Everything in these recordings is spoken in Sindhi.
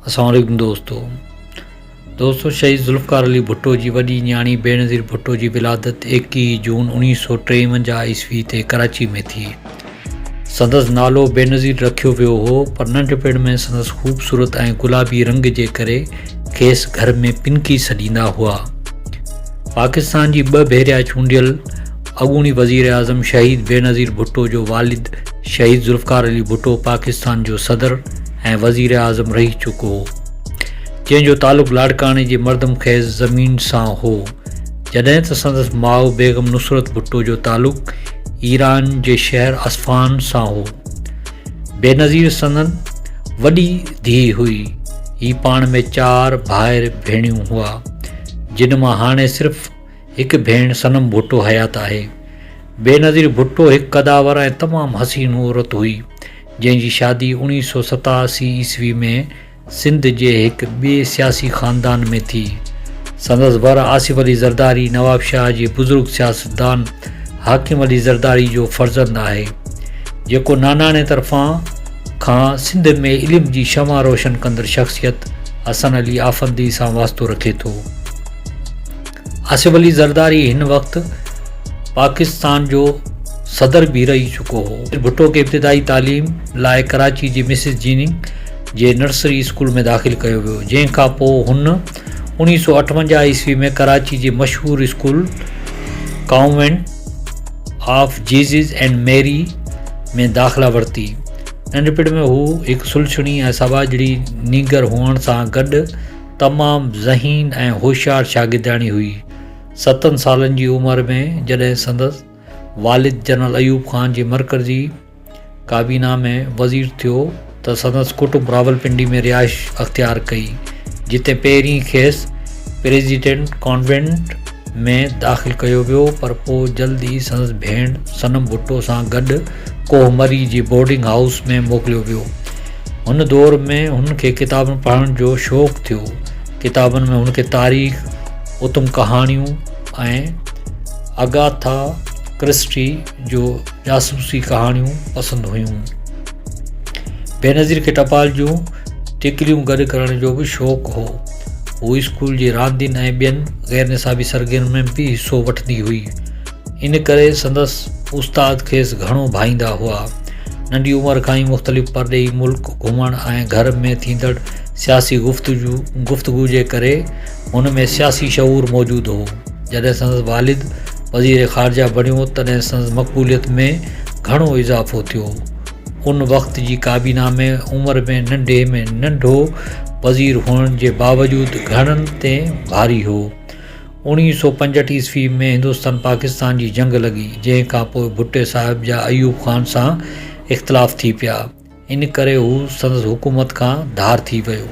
السلام عليڪم دوستو دوستو شهيد ذوالفقار علي ڀٽو جي وڏي نياڻي بينظير ڀٽو جي ولادت ايڪيهه جون اڻيهه سؤ ٽيونجاهه عيسوي تي ڪراچي ۾ ٿي سندس نالو بينظير رکيو ويو هو پر ننڍپڻ ۾ سندس خوبصورت ۽ گلابي رنگ جي ڪري کيس گهر ۾ پنڪي سڏيندا هئا پاڪستان جي ٻه ڀيريا چونڊيل اڳوڻي وزيراعظم شهيد بينظير ڀٽو جو والد شهيد ذوالفقار علي ڀٽو پاڪستان جو صدر ۽ وزيراعظم رهي چڪو هو جنهن جو تعلق لاڙڪاڻي جي مردم خيز زمين سان هو جڏهن ته سندس ماء بيگم نصرت ڀٽو جو تعلق ايران جي شهر اصفهان سان هو بينظير سندن وڏي ڌيء هئي هي پاڻ ۾ چار ڀائر ڀيڻيون هئا جن مان هاڻي صرف هڪ ڀيڻ صنم ڀٽو حيات آهي. بينظير ڀٽو هڪ قدآور ۽ تمام حسين عورت هئي، جنهن جي شادي اوڻيهه سؤ ستاسي عيسوي ۾ سنڌ جي هڪ ٻئي سياسي خاندان ۾ ٿي. سندس ور آصف علي زرداري نوابشاهه جي بزرگ سياستدان حاڪم علي زرداري جو فرزند آهي، جيڪو ناناڻي طرفان کان سنڌ ۾ علم جي شمع روشن ڪندڙ شخصيت حسن علي آفندي سان واسطو رکي ٿو. آصف علي زرداري هن وقت پاڪستان جو صدر به رهي چڪو هو. ڀٽو کي ابتدائي تعليم لاء ڪراچي جي مسز جيننگ جي نرسري اسڪول ۾ داخل ڪيو ويو، جنهن کان پوء هن اوڻيهه سؤ اٺونجاهه عيسوي ۾ ڪراچي جي مشهور school convent of Jesus and Mary ۾ داخلا ورتي. ننڍپڻ ۾ هو هڪ سلڇڻي ۽ سٻاجهڙي نينگر هئڻ سان گڏ، تمام ذهين ۽ هوشيار شاگردياڻي هئي. ستن سالن جي عمر ۾ جڏهن سندس والد جنرل ايوب خان جي مرڪزي ڪابينا ۾ وزير ٿيو ته سندس ڪٽنب راولپنڊي ۾ رهائش اختيار ڪئي جتي پهرين کيس پريزيڊنٽ ڪانوينٽ ۾ داخل ڪيو ويو پر پوء جلد ئي سندس ڀيڻ صنم ڀٽو سان گڏ ڪوهه مري جي بورڊنگ هائوس ۾ موڪليو ويو هن دور ۾ هن کي ڪتابن پڙهڻ جو شوق ٿيو. ڪتابن ۾ هن کي تاريخ، اتم ڪهاڻيون ۽ اگاٿا ڪرسٽي جو جاسوسي ڪهاڻيون پسند هيون. بينظير کي ٽپال جون ٽڪريون گڏ ڪرڻ جو به شوق هو. هوء اسڪول جي راندين ۽ ٻين غيرنصابي سرگرمين ۾ به حصو وٺندي هئي. ان ڪري سندس استاد کيس گهڻو ڀائيندا هئا. ننڍي عمر کان ئي مختلف پرڏيهي ملڪ گهمڻ ۽ گهر ۾ ٿيندڙ سياسي گفتگو جي ڪري هن ۾ سياسي شعور موجود هو. جڏهن سندس والد وزير خارجه بڻيو تڏهن سندس مقبوليت ۾ گهڻو اضافو ٿيو. ان وقت جي ڪابينا ۾ عمر ۾ ننڍي ۾ ننڍو وزير هئڻ جي باوجود گهڻن تي ڀاري هو. اوڻيهه سؤ پنجهٺ عيسوي ۾ هندوستان پاڪستان جي جنگ لڳي جنهن کان پوء ڀٽي صاحب جا ايوب خان سان اختلاف ٿي پيا ان ڪري هو سندس حڪومت کان ڌار ٿي ويو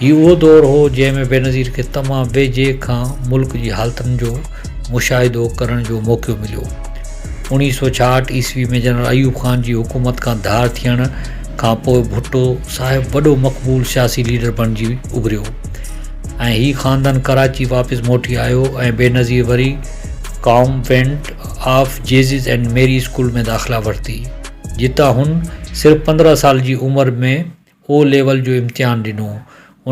هي اهو دور هو جنهن ۾ بينظير کي تمام ويجهي کان ملڪ جي حالتن جو مشاهدو ڪرڻ جو موقعو مليو اوڻيهه سؤ ڇاهٺ عيسوي ۾ جنرل ايوب خان جي حڪومت کان ڌار ٿيڻ کان پوء ڀٽو صاحب وڏو مقبول سياسي ليڊر بڻجي اڀريو ۽ هي خاندان ڪراچي واپس موٽي آيو ۽ بينظير وري convent of Jesus and Mary school ۾ داخلا ورتي جتان هن صرف پندرهن سال جي عمر ۾ او ليول جو امتحان ڏنو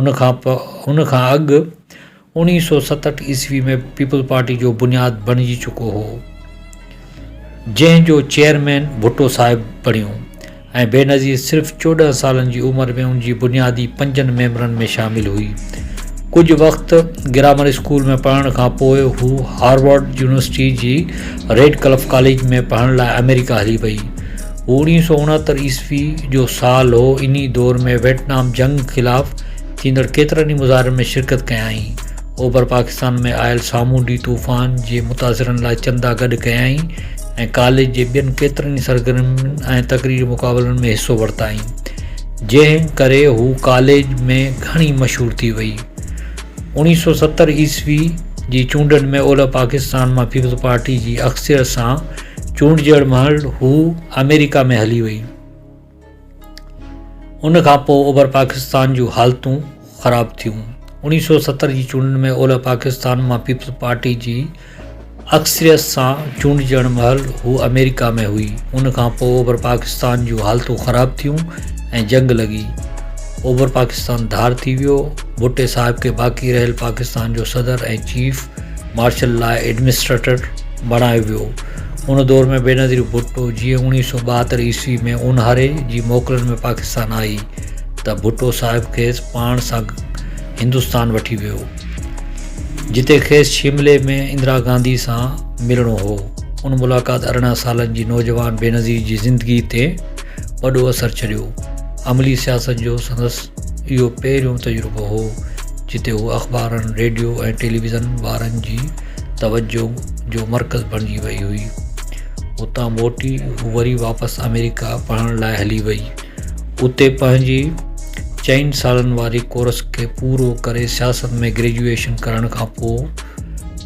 ان کان پ ان کان اڳ اوڻيهه سو ستهٺ عيسوي ۾ پيپلز پارٽي جو بنياد بڻجي چڪو هو جنهن جو چيئرمين ڀٽو صاحب بڻيو ۽ بينظير صرف چوڏهن سالن جي عمر ۾ ان جي بنيادي پنجن ميمبرن ۾ شامل هئي. ڪجهه وقت گرامر اسڪول ۾ پڙهڻ کان پوء هو هارورڊ يونيورسٽي جي ريڊڪلف ڪاليج ۾ پڙهڻ لاء آمريڪا هلي وئي. هو اوڻيهه سؤ اڻهتر عيسوي جو سال هو. انهي دور ۾ ويٽنام جنگ خلاف ٿيندڙ ڪيترن ئي مظاهرن ۾ شرڪت ڪيائين. اوڀر پاڪستان ۾ آيل سامونڊي طوفان جي متاثرن لاء چندا گڏ ڪيائين ۽ ڪاليج جي ٻين ڪيترن ئي سرگرمين ۽ تقريري مقابلن ۾ حصو ورتائين جنهن ڪري هو ڪاليج ۾ گهڻي مشهور ٿي وئي. اوڻيهه سؤ ستر عيسوي جي چونڊن ۾ اولهه پاڪستان مان پيپلز پارٽي جي اڪثريت سان چونڊجڻ مهل هو آمريڪا ۾ هلي وئي. ان کان پوء اوڀر پاڪستان جون حالتون خراب ٿيون. اوڻيهه سؤ ستر جي چونڊن ۾ اولهه پاڪستان مان پيپلز پارٽي جي اڪثريت سان چونڊجڻ مهل هو آمريڪا ۾ هئي. ان کان پوء اوڀر پاڪستان جون حالتون خراب ٿيون ۽ جنگ لڳي. اوڀر پاڪستان ڌار ٿي ويو. ڀٽي صاحب کي باقي رهيل پاڪستان جو صدر ۽ چيف مارشل لاء ايڊمنسٽريٽر بڻايو ويو. ان دور ۾ بينظير ڀٽو جيئن اوڻيهه سؤ ٻاهتر عيسوي ۾ اونهاري جي موڪلن ۾ پاڪستان آئي ته ڀٽو صاحب کيس پاڻ سان هندستان وٺي ويو جتي کيس شملي ۾ اندرا گانڌي سان ملڻو هو ان ملاقات ارڙهن سالن جي نوجوان بينظير جي زندگي تي وڏو اثر ڇڏيو عملي سياست جو سندس اهو پهريون تجربو هو جتي هو اخبارن ريڊيو ۽ ٽيليويزن وارن جي توجهه جو مرڪز بڻجي وئي هئي. اتان موٽي هو وري واپس آمريڪا پڙهڻ لاء هلي وئي. اتي پنهنجي چئن سالن واري ڪورس کي پورو ڪري سياست ۾ گريجوئيشن ڪرڻ کان پوء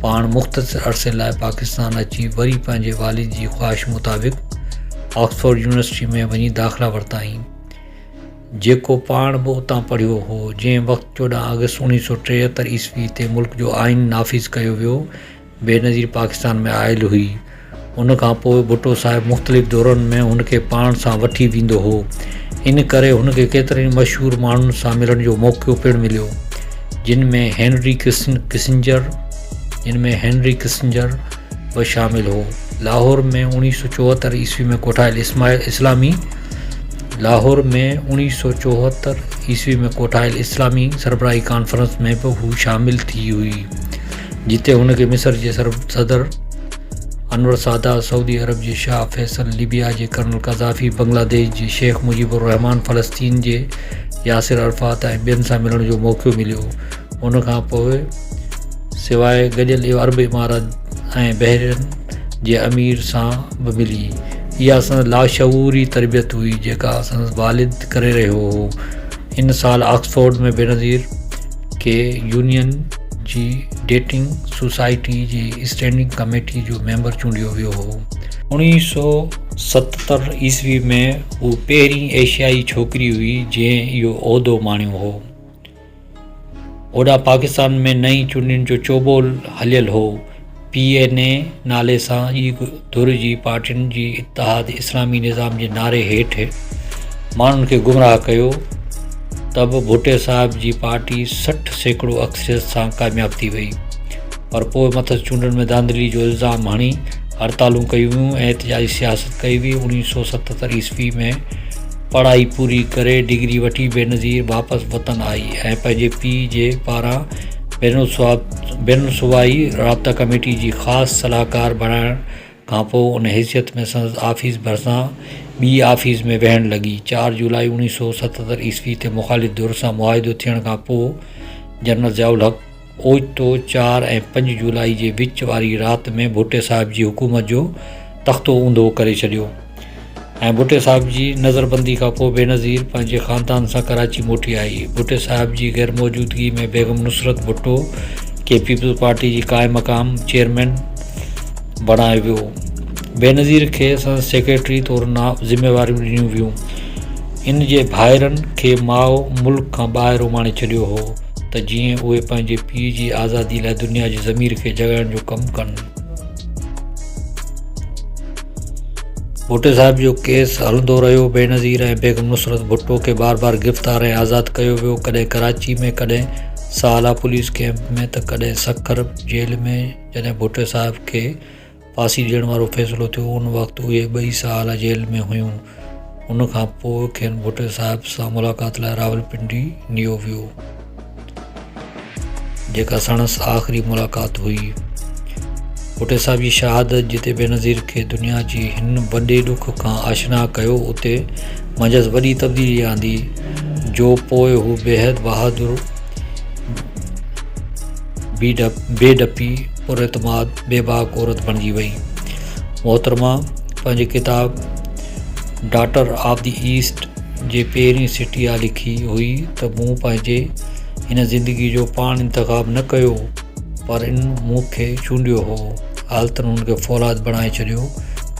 پاڻ مختصر عرصي لاء پاڪستان اچي وري پنهنجي والد جي خواهش مطابق آڪسفورڊ يونيورسٽي ۾ وڃي داخلا ورتائين. جيڪو پاڻ به اتان پڙهيو هو، جنهن وقت چوڏهن آگسٽ اوڻيهه سؤ ٽيهتر عيسوي تي ملڪ جو آئين نافذ ڪيو ويو، بينظير پاڪستان ۾ آيل هئي. ان کان پوء ڀٽو صاحب مختلف دورن ۾ هن کي پاڻ سان وٺي ويندو هو. ان ڪري هن کي ڪيترن ئي مشهور ماڻهن سان ملڻ جو موقعو پڻ مليو، جن ۾ هينري ڪسنجر، جن ۾ هينري ڪسنجر به شامل هو. لاهور ۾ اوڻيهه سؤ چوهتر عيسوي ۾ ڪوٺايل اسلامي. لاهور ۾ اوڻيهه سؤ چوهتر عيسوي ۾ ڪوٺايل اسلامي سربراهي ڪانفرنس ۾ به هو شامل ٿي هئي جتي هن کي مصر جي صدر انور سادات سعودي عرب جي شاهه فيصل ليبيا جي ڪرنل قذافي بنگلاديش جي شيخ مجيب الرحمان فلسطين جي ياسر عرفات ۽ ٻين سان ملڻ جو موقعو مليو ان کانپوء سواء گڏيل عرب امارات ۽ بحرين جي امير سان به ملي. اها سندس لاشعوري تربيت هئي، جيڪا سندس والد ڪري رهيو هو. ان سال آڪسفورڊ ۾ بينظير کي يونين جي ڊيٽنگ سوسائٽي جي اسٽينڊنگ ڪميٽي جو ميمبر چونڊيو ويو هو. اوڻيهه سؤ ستتر عيسوي ۾ هوء پهرين ايشيائي ڇوڪري هئي، جنهن اهو عهدو ماڻيو هو. اوڏانهن پاڪستان ۾ نئين چونڊن جو چوٻول هليل هو. پي اين اي نالي سان ئي ڌر جي پارٽين جي اتحاد اسلامي نظام جي نعري هيٺ ماڻهن کي گمراهه ڪيو ته به ڀٽي صاحب جي پارٽي سٺ سيڪڙو اڪثريت سان ڪامياب ٿي وئي پر پوء مٿس چونڊن ۾ ڌانڌلي جو الزام هڻي هڙتالون ڪيون ويون ۽ احتجاجي سياست ڪئي وئي. اڻويهه سؤ ستهتر عيسوي ۾ پڙهائي پوري ڪري ڊگري وٺي بينظير واپس وطن آئي ۽ پنهنجي پيء جي پاران بين الصوبائي رابطا ڪميٽي جي خاص صلاحڪار بڻائڻ کانپوء ان حيثيت ۾ سندس آفيس ڀرسان ٻي آفيس ۾ ويهڻ لڳي چار جولائي اوڻيھ سؤ ستتر عيسوي تي مخالف ڌر سان معاهدو ٿيڻ کانپوء جنرل ضياء الحق اوچتو چار ۽ پنج جولائي جي وچ واري رات ۾ ڀٽي صاحب جي حڪومت جو تختو اونڌو ڪري ڇڏيو ۽ ڀٽي صاحب جي نظربندي کان پوء بينظير پنهنجي خاندان سان ڪراچي موٽي آئي ڀٽي صاحب جي غيرموجودگي ۾ بيگم نصرت ڀٽو کي پيپلز پارٽي جي قائم مقام چيئرمين بڻايو ويو بينظير کي سندس سيڪريٽري طور نا ذميواريون ڏنيون ويون ان جي ڀائرن کي ماء ملڪ کان ٻاهر اماڻي ڇڏيو هو ته جيئن اهي پنهنجي پيء جي آزادي لاء دنيا جي ضمير کي جڳائڻ جو ڪم ڪن. ڀٽي صاحب جو ڪيس هلندو رهيو. بينظير ۽ بيگم نصرت ڀٽو کي بار بار گرفتار ۽ آزاد ڪيو ويو. ڪڏهن ڪراچي ۾ ڪڏهن ساهلا پوليس ڪئمپ ۾ ته ڪڏهن سکر جيل ۾ جڏهن ڀٽي صاحب کي ڦاسي ڏيڻ وارو فيصلو ٿيو. ان وقت اهي ٻئي سال جيل ۾ هيون. ان کان پوء کين ڀٽو صاحب سان ملاقات لاء راولپنڊي نيو ويو. جيڪا سڻس آخري ملاقات هئي. ڀٽو صاحب جي شهادت جتي بينظير کي دنيا جي هن وڏي ڏک کان آشنا ڪيو اتي منجهس وڏي تبديلي آندي جو پوء هو بيحد بهادر، بي ڊپي، پر اعتماد بيباڪ عورت بڻجي وئي. محترمه پنهنجي ڪتاب ڊاٽر آف دي ايسٽ جي پهرين سٽي آ لکي هئي ته مون پنهنجي هن زندگي جو پاڻ انتخاب نه ڪيو پر ان مون کي چونڊيو هو. حالتن هن کي فولاد بڻائي ڇڏيو.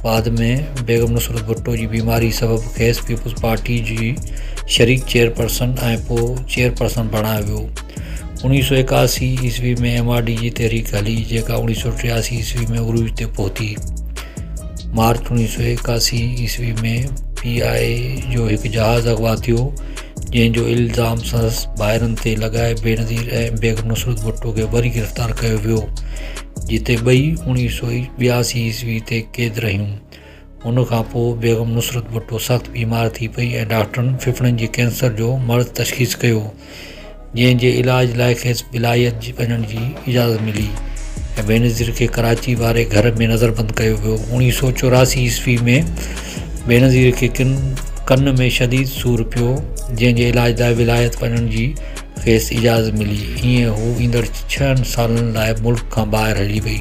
بعد ۾ بيگم نصرت ڀٽو جي بيماري سبب کيس پيپلز پارٽي جي شريڪ چيئرپرسن ۽ پوء چيئرپرسن بڻايو ويو. اڻويهه سؤ ايڪاسي عيسوي ۾ ايم آر ڊي جي تحريڪ هلي جيڪا اڻويهه سؤ ٽياسي عيسوي ۾ عروج تي پهتي مارچ اڻويهه سؤ ايڪاسي عيسوي ۾ پي آء اي جو هڪ جهاز اغوا ٿيو جنهن جو الزام سندس ڀائرن تي لڳائي بينظير ۽ بيگم نصرت ڀٽو کي وري گرفتار ڪيو ويو جتي ٻئي اڻويهه سؤ ٻياسي عيسوي تي قيد رهيون ان کان پوء بيگم نصرت ڀٽو سخت بيمار ٿي پئي ۽ ڊاڪٽرن ڦڦڙن جي ڪينسر جو مرض تشخيص ڪيو جنهن جي علاج لاء کيس بلايت وڃڻ جي اجازت ملي ۽ بينظير کي ڪراچي واري گهر ۾ نظربند ڪيو ويو اوڻيهه سؤ چوراسي عيسوي ۾ بينظير کي ڪن ڪن ۾ شديد سور پيو جنهن جي علاج لاء ولايت وڃڻ جي کيس اجازت ملي ائين هو ايندڙ ڇهن سالن لاء ملڪ کان ٻاهر هلي وئي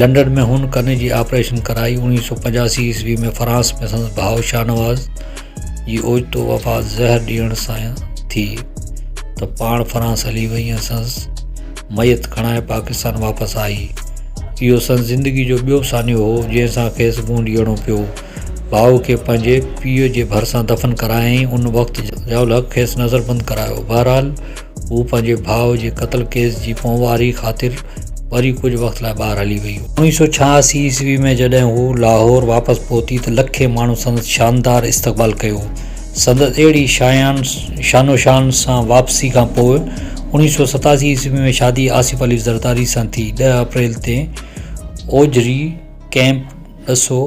لنڊن ۾ هن ڪن جي آپريشن ڪرائي. اوڻيهه سؤ پنجاسي عيسوي ۾ فرانس ۾ سندس ڀاء شاهنواز جي اوچتو وفات زهر ڏيڻ سان ٿي ته پاڻ فرانس هلي وئي ۽ سندس ميت کڻائي پاڪستان واپس آئي. اهو سندس زندگي جو ٻيو سانحو هو جنهن سان کيس منهن ڏيڻو پيو. ڀاء کي پنهنجي پيء جي ڀرسان دفن ڪرايائين. ان وقت ضياء الحق کيس نظربند ڪرايو. بهرحال هو پنهنجي ڀاء جي قتل ڪيس جي پونواري خاطر وري ڪجهه وقت لاء ٻاهر هلي وئي. اوڻيهه سؤ ڇهاسي عيسوي ۾ جڏهن هو لاهور واپس پهتي ته لکين ماڻهن سندس شاندار استقبال ڪيو. سندس اهڙي شايان شان و شان سان واپسي کان پوء اوڻيهه سؤ ستاسي عيسوي ۾ شادي آصف علي زرداري سان ٿي ڏهه اپريل تي اوجهري ڪئمپ ڏسو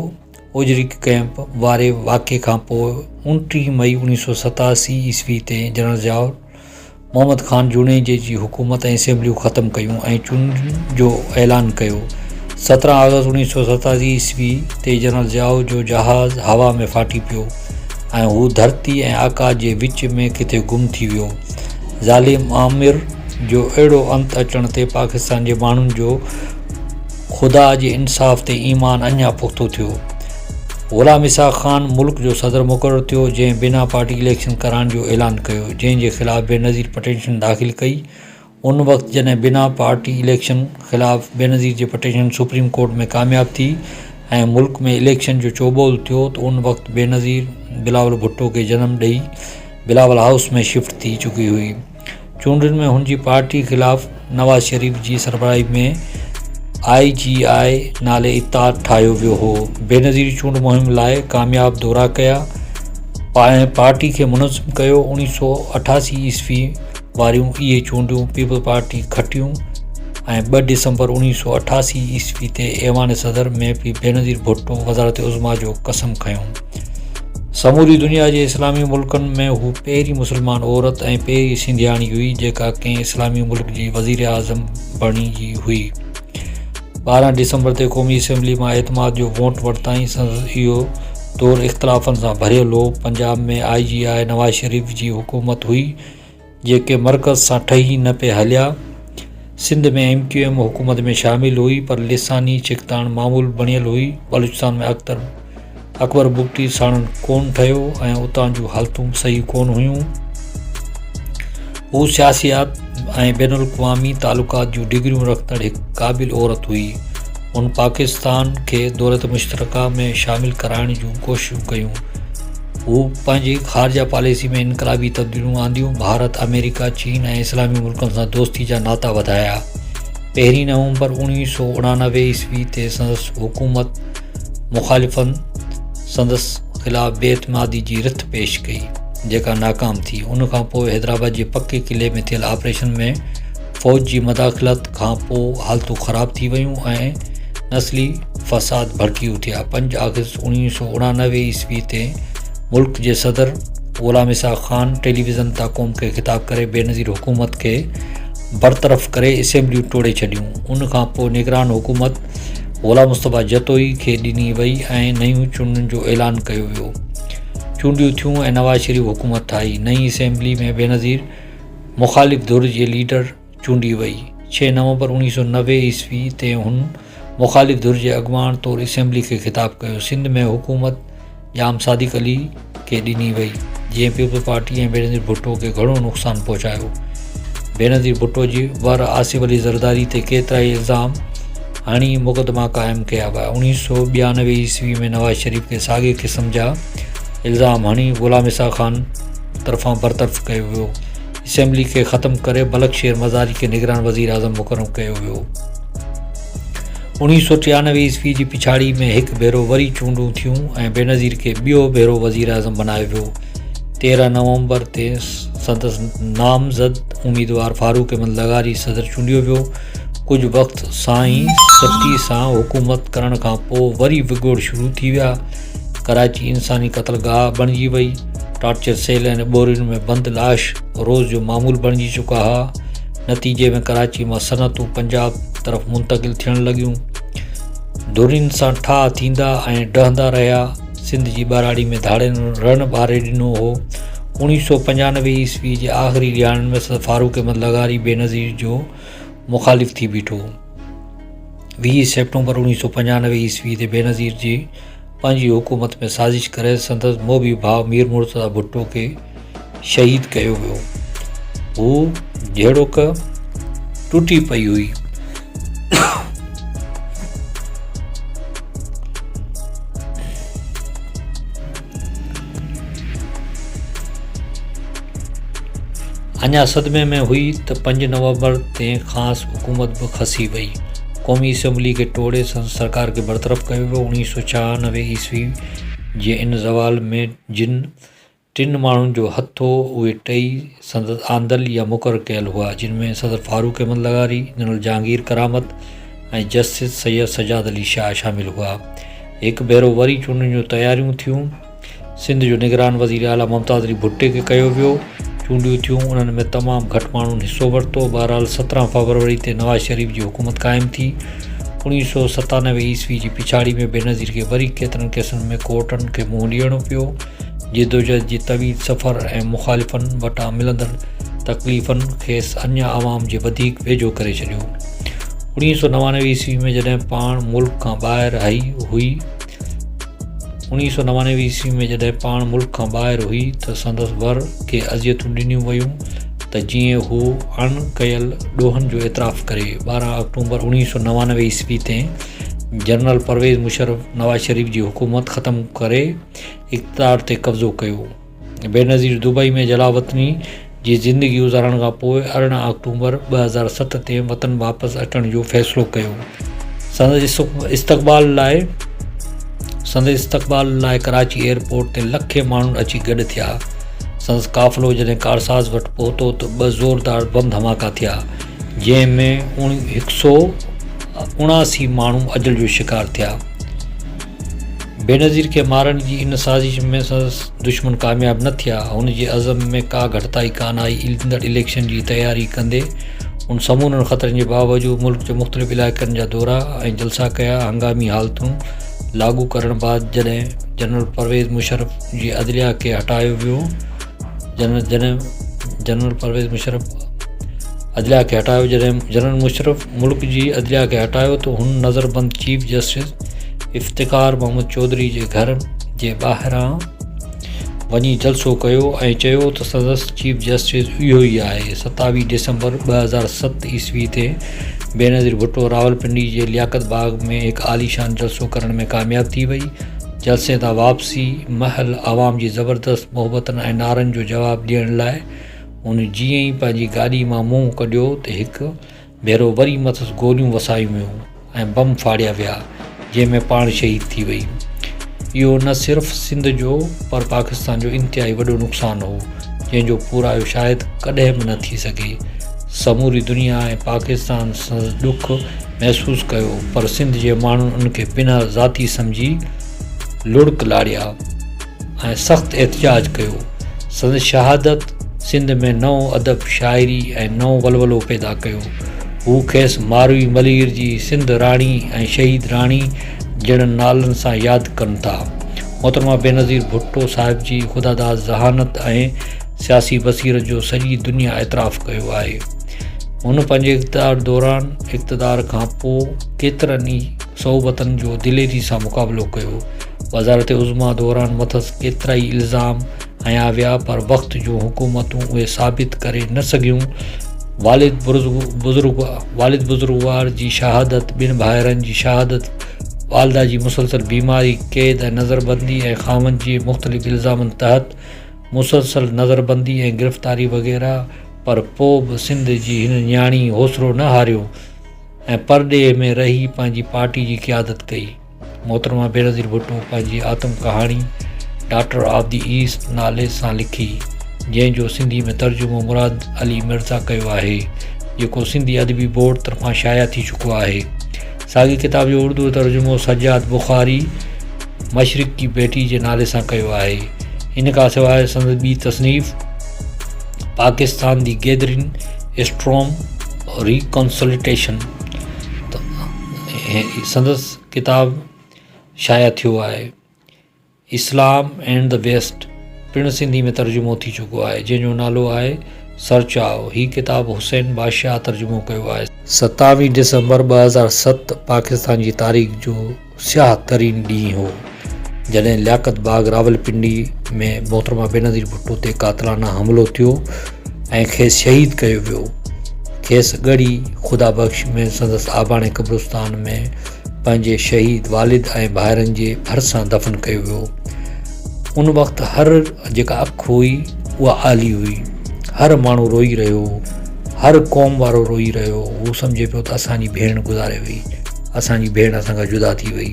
اوجري ڪئمپ واري واقعي کان پوء اوڻٽيهه مئي اوڻيهه سؤ ستاسي عيسوي تي جنرل ضياء محمد خان جوڻيجي جي حڪومت ۽ اسيمبليون ختم ڪيون ۽ چونڊن جو اعلان ڪيو سترهن آگسٽ اوڻيهه سؤ ستاسي عيسوي تي جنرل ضياء جو جهاز هوا ۾ ڦاٽي پيو ۽ هو ڌرتي ۽ آڪاس جي وچ ۾ ڪٿي گم ٿي ويو ظالم آمر جو اهڙو انت اچڻ تي پاڪستان جي ماڻهن جو خدا جي انصاف تي ايمان اڃا پختو ٿيو. غلام اسحاق خان ملڪ جو صدر مقرر ٿيو، جنهن بنا پارٽي اليڪشن ڪرائڻ جو اعلان ڪيو، جنهن جي خلاف بينظير پٽيشن داخل ڪئي. ان وقت جڏهن بنا پارٽي اليڪشن خلاف بينظير جي پٽيشن سپريم ڪورٽ ۾ ڪامياب ٿي ۽ ملڪ ۾ اليڪشن جو چوبول ٿيو ته ان وقت بينظير بلاول ڀٽو کي جنم ڏئي بلاول هائوس ۾ شفٽ ٿي چڪي هئي. چونڊن ۾ هن جي پارٽي خلاف نواز شريف جي سربراهي ۾ آء جي آء نالي اتحاد ٺاهيو ويو هو بينظير چونڊ مهم لاء ڪامياب دورا ڪيا ۽ پارٽي کي منظم ڪيو 1988 عيسوي واريون اهي چونڊون پيپلز پارٽي کٽيون ۽ 2 ڊسمبر 1988 عيسوي تي ايوان صدر ۾ به بينظير ڀٽو وزارت عظميٰ جو قسم کنيو سموري دنيا جي اسلامي ملڪن ۾ هو پهرين مسلمان عورت ۽ پهرين سنڌياڻي هئي جيڪا ڪنهن اسلامي ملڪ جي وزيراعظم بڻجي هئي 12 ڊسمبر تي قومي اسيمبلي مان اعتماد جو ووٽ ورتائين سندس اهو دور اختلافن سان ڀريل هو پنجاب ۾ آء جي آء نواز شريف جي حڪومت هئي جيڪي مرڪز سان ٺهي نه پئي هليا. سنڌ ۾ ايم ڪيو ايم حڪومت ۾ شامل هئي پر لساني ڇڪتاڻ معمول بڻيل هئي. بلوچستان ۾ اختر اڪبر بگٽي ساڻن ڪون ٺهيو ۽ اتان جون حالتون به صحيح ڪون هيون. هو سياسيات ۽ بين الاقوامي تعلقات جون ڊگريون رکندڙ هڪ قابل عورت هئي. هن پاڪستان کي دولت مشترڪه ۾ شامل ڪرائڻ جون ڪوششون ڪيون. هو پنهنجي خارجه پاليسي ۾ انقلابي تبديليون آنديون، ڀارت، آمريڪا، چين ۽ اسلامي ملڪن سان دوستي جا ناتا وڌايا. پهرين نومبر اوڻويهه سؤ اڻانوي عيسوي تي سندس حڪومت مخالفن سندس خلاف بي اعتمادي جي رٿ پيش ڪئي، جيڪا ناڪام ٿي. ان کان پوء حيدرآباد جي پڪي قلعي ۾ ٿيل آپريشن ۾، فوج جي مداخلت کان پوء حالتون خراب ٿي ويون ۽ نسلي فساد ڀڙڪي اٿيا پنج آگسٽ اوڻيهه سؤ اڻانوي عيسوي تي ملڪ جي صدر غلام اسحاق خان ٽيليويزن تان قوم کي خطاب ڪري بينظير حڪومت کي برطرف ڪري اسيمبليون ٽوڙي ڇڏيون ان کان پوء نگران حڪومت غلام مصطفيٰ جتوئي کي ڏني وئي ۽ نيون چونڊن جو اعلان ڪيو ويو چونڊيون ٿيون ۽ نواز شريف حڪومت ٺاهي نئين اسيمبلي ۾ بينظير مخالف ڌر جي ليڊر چونڊي وئي. ڇهه نومبر اوڻيهه سؤ نوي عيسوي تي هن مخالف ڌر جي اڳواڻ طور اسيمبلي کي خطاب ڪيو. سنڌ ۾ حڪومت ڄام صادق علي کي ڏني وئي، جنهن پيپلز پارٽي ۽ بينظير ڀٽو کي گهڻو نقصان پهچايو. بينظير ڀٽو جي ور آصف علي زرداري تي ڪيترائي الزام هڻي مقدما قائم ڪيا ويا. اوڻيهه سؤ ٻيانوي عيسوي ۾ نواز شريف کي ساڳئي قسم جا الزام هڻي غلام اسحاق خان، طرفان برطرف ڪيو ويو. اسيمبلي کي ختم ڪري بلڪ شير مزاري کي نگران وزير اعظم مقرر ڪيو ويو. اوڻيهه سؤ ٽيانوي عيسوي جي پڇاڙي ۾ هڪ ڀيرو وري چونڊون ٿيون ۽ بينظير کي ٻيو ڀيرو وزير اعظم بنايو ويو. تيرهن نومبر تي سندس نامزد اميدوار فاروق احمد لغاري صدر چونڊيو ويو. ڪجهه وقت سان ئي سٽي سان حڪومت ڪرڻ کان پوء وري وڳوڙ شروع ٿي ويا. ڪراچي انساني قتل گاهه بڻجي وئي. ٽارچر سيل ۽ ٻورين ۾ بند لاش روز جو معمول بڻجي چڪا ها. نتيجي ۾ ڪراچي مان صنعتون پنجاب طرف منتقل ٿيڻ لڳيون. ڌرين سان ٺاهه ٿيندا ۽ ڊهندا رهيا. سنڌ جي ٻهراڙي ۾ ڌاڙين رڻ ٻاري ڏنو هو. اوڻيهه سؤ پنجانوي عيسوي جي آخري ڏهاڙن ۾ سر فاروق احمد لغاري بينظير جو مخالف ٿي بيٺو. ويهه سيپٽمبر اوڻيهه سؤ پنجانوي عيسوي تي بينظير جي پنهنجي حڪومت ۾ سازش ڪري سندس موڀي ڀاء مير مرتضيٰ ڀٽو کي شهيد ڪيو ويو هو جهڙوڪ ٽٽي پئي هئي اڃا صدمي ۾ هئي ته پنج نومبر تي کانئس حڪومت به کسي وئي. قومي اسيمبلي کي ٽوڙي سندس سرڪار کي برطرف ڪيو ويو. اوڻيهه سؤ ڇهانوي عيسوي جي ان زوال ۾ جن ٽن ماڻهن جو هٿ هو، اهي ٽئي سندس آندل يا مقرر ڪيل هئا، جن ۾ صدر فاروق احمد لغاري، جنرل جهانگير ڪرامت ۽ جسٽس سيد سجاد علي شاهه شامل هئا. هڪ ڀيرو وري چونڊن جون تياريون ٿيون. سنڌ جو نگران وزير اعليٰ ممتاز علي ڀٽي کي ڪيو ويو. چونڊيون ٿيون، انهن ۾ تمام گهٽ ماڻهن حصو ورتو. بهرحال سترهن فبروري تي نواز شريف جي حڪومت قائم ٿي. اوڻيهه سؤ ستانوي عيسوي جي پڇاڙي ۾ بينظير کي وري ڪيترن ڪيسن ۾ ڪورٽن کي منهن ڏيڻو پيو. جدوجهد جي طويل سفر ۽ مخالفن وٽان ملندڙ تڪليفن کيس اڃا عوام جي وڌيڪ ويجهو ڪري ڇڏيو. اوڻيهه سؤ نوانوي عيسوي ۾ جڏهن پاڻ ملڪ کان ٻاهر هئي هئي اوڻيهه سؤ نوانوي عيسوي ۾ جڏهن پاڻ ملڪ کان ٻاهر هئي ته سندس ور کي اذيتون ڏنيون ويون ته جيئن هو اڻ ڪيل ڏوهن جو اعتراف ڪري. ٻارهن آڪٽومبر اوڻيهه سؤ نوانوي عيسوي تي جنرل پرويز مشرف نواز شريف جي حڪومت ختم ڪري، اقتدار تي قبضو ڪيو. بينظير دبئي ۾ جلاوطني جي زندگي گذارڻ کان پوء ارڙهن آڪٽوبر ٻه هزار ست تي وطن واپس اچڻ جو فيصلو ڪيو. سندس استقبال لاء سندس استقبال لاء ڪراچي ايئرپورٽ تي لکين ماڻهن اچي گڏ ٿيا. سندس قافلو جڏهن ڪارساز وٽ پهتو ته ٻه زوردار بم ڌماڪا ٿيا جنهن ۾ هڪ سؤ اڻاسي ماڻهو اجل جو شڪار ٿيا. بينظير کي مارڻ جي ان سازش ۾ سندس دشمن ڪامياب نه ٿيا. هن جي عزم ۾ ڪا گهٽتائي ڪانه آئي. ايندڙ اليڪشن جي تياري ڪندي هن سمورن خطرن جي باوجود ملڪ جي مختلف علائقن جا دورا ۽ جلسا ڪيا. هنگامي حالتون لاڳو ڪرڻ بعد جڏهن جنرل پرويز مشرف جي عدليا کي هٽايو ويو جڏهن جنرل مشرف ملڪ جي عدليا کي هٽايو ته هن نظربند چيف جسٽس افتخار محمد چوڌري جي گهر جي ٻاهران وڃي جلسو ڪيو ۽ چيو ته سندس چيف جسٽس اهو ئي آهي 27 ڊسمبر 2007 عيسوي تي بينظير ڀٽو راولپنڊي جي لياقت باغ ۾ هڪ عاليشان جلسو ڪرڻ ۾ ڪامياب ٿي وئي جلسي تان واپسي مهل عوام جي زبردست محبتن ۽ نعرن جو جواب ڏيڻ لاء هن جيئن ئي پنهنجي گاڏي مان منهن ڪڍيو ته هڪ ڀيرو وري مٿس گوليون وسايون ويون ۽ بم ڦاڙيا ويا جنهن ۾ پاڻ شهيد ٿي وئي اهو نه صرف سنڌ جو پر پاڪستان جو انتهائي وڏو نقصان هو جنهن جو پورائيو شايد ڪڏهن به نه ٿي سگهي سموري دنيا ۽ پاڪستان سندس ڏک محسوس ڪيو پر سنڌ جي ماڻهن ان کي بنهه ذاتي سمجهي لڙڪ لاڙيا ۽ سخت احتجاج ڪيو. سندس شهادت سنڌ ۾ نئون ادب، شاعري ۽ نئون ولولو پيدا ڪيو. هو کيس ماروي ملير جي سنڌ راڻي ۽ شهيد راڻي جهڙن نالن سان ياد ڪن ٿا. محترمه بينظير ڀٽو صاحب جي خداداد ذهانت ۽ سياسي بصيرت جو سڄي دنيا اعتراف ڪيو آهي. هن پنهنجي اقتدار دوران اقتدار کان پوء ڪيترن ئي صعوبتن جو دليري سان مقابلو ڪيو. وزارت عظميٰ دوران مٿس ڪيترائي الزام هنيا ويا پر وقت جون حڪومتون اهي ثابت ڪري نه سگهيون. والد بزرگ والد بزرگوار جي شهادت، ٻن ڀائرن جي شهادت، والده جي مسلسل بيماري، قيد ۽ نظربندي ۽ خاوند جي مختلف الزامن تحت مسلسل نظربندي ۽ گرفتاري وغيره پر پوء به سنڌ جي هن نياڻي حوصلو نه هاريو ۽ پرڏيهه ۾ رهي پنهنجي پارٽي جي قيادت ڪئي. محترمه بينظير ڀٽو پنهنجي آتم ڪهاڻي ڊاٽر آف دي ايسٽ نالي سان لکي جنهن جو سنڌي ۾ ترجمو مراد علي مرزا ڪيو آهي جيڪو سنڌي ادبي بورڊ طرفان شايع ٿي چڪو آهي ساڳي ڪتاب جو اردو ترجمو سجاد بخاري مشرق جي بيٽي جي نالي سان ڪيو آهي ان کان سواء سندس ٻي تصنيف پاڪستان دي گيدرين اسٽروم ريڪنسلٽيشن سندس ڪتاب شايع ٿيو آهي اسلام اينڊ دي ويسٽ پڻ سنڌي ۾ ترجمو ٿي چڪو آهي جنهن جو نالو آهي سر چاهو هي ڪتاب حسين بادشاهه ترجمو ڪيو آهي. ستاويهه ڊسمبر ٻه هزار ست پاڪستان جي تاريخ جو سياهه ترين ڏينهن هو. جڏهن لياقت باغ راولپنڊي ۾ محترمه بينظير ڀٽو تي قاتلانه حملو ٿيو ۽ کيس شهيد ڪيو ويو کيس ڳڙهي خدا بخش ۾ سندس آباڻي قبرستان ۾ پنهنجي شهيد والد ۽ ڀائرن جي ڀرسان دفن ڪيو ويو ان وقت هر جيڪا اک هئي اها آلي هئي هر ماڻهو روئي رهيو هر قوم وارو روئي رهيو هو سمجهي پيو ته اسانجي ڀيڻ گذاري وئي اسانجي ڀيڻ اسان کان جدا ٿي وئي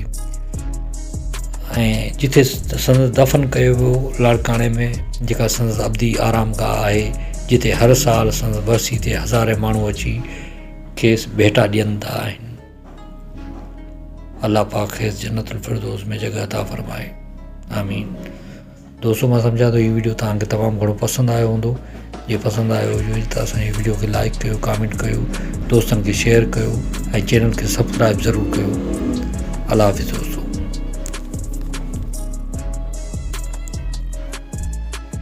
۽ جتي سندس دفن ڪيو ويو لاڙڪاڻي ۾ جيڪا سندس ابدي آرام گاهه آهي جتي هر سال سندس ورسي تي هزارين ماڻهو اچي کيس ڀيٽا ڏيندا آهن الله پاڪ کيس جنت الفردوس ۾ جڳهه عطا فرمائي آمين دوستو مان سمجهان ٿو هي ويڊيو توهان کي تمام گهڻو پسند آيو هوندو جي پسند آيو هجي ته اسان جي ويڊيو کي لائڪ ڪيو ڪامينٽ ڪيو دوستن کي شيئر ڪيو ۽ چينل کي سبسڪرائب ضرور ڪيو الله حافظ دوستو